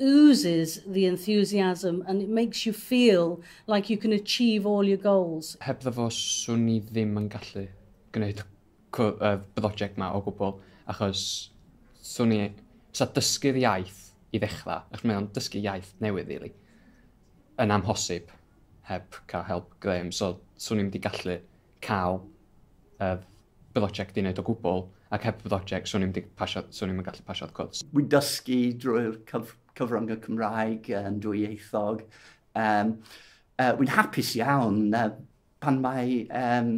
oozes the enthusiasm and it makes you feel like you can achieve all your goals. Hebddo fo swn i ddim yn gallu gwneud y brosiect ma o gwbl achos swn i... sa dysgu'r iaith i ddechrau, achos mae o'n dysgu iaith newydd rili, yn amhosib heb cael help Graham, so swn i'm wedi gallu cael yr broject uned o gwbl, ac heb broject 'swn i'm 'di pasio, 'swn i'm yn gallu pasio'r cwrs. Wi'n dysgu drwy'r cyf cyfrynga Cymraeg yn dwyieithog. Um, uh, wi'n hapus iawn uh, pan mae um,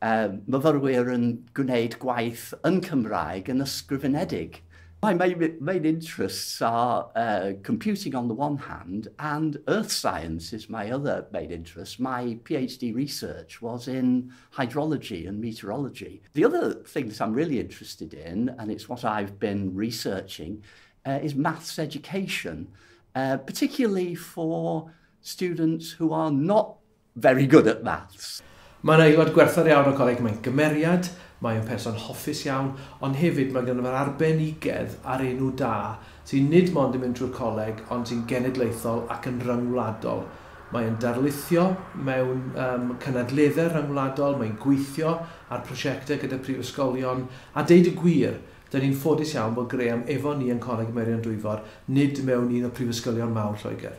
uh, myfyrwyr yn gwneud gwaith yn Cymraeg yn ysgrifenedig. My, my main interests are uh, computing on the one hand and earth science is my other main interest. My PhD research was in hydrology and meteorology. The other thing that I'm really interested in, and it's what I've been researching, uh, is maths education, uh, particularly for students who are not very good at maths. Mae'n aelod gwerthfawr iawn o Coleg Mae'n gymeriad, mae'n person hoffus iawn, ond hefyd mae gen i'r arbenigedd a'r enw da sy'n nid mond yn mynd trwy'r coleg ond sy'n genedlaethol ac yn ryngwladol. Mae yn darlithio mewn um, cynadleddau rhyngwladol, mae'n gweithio ar prosiectau gyda prifysgolion, a deud y gwir, dyn ni'n ffodus iawn bod Graham efo ni yn Coleg Meirion Dwyfor, nid mewn un o prifysgolion mawr Lloegr.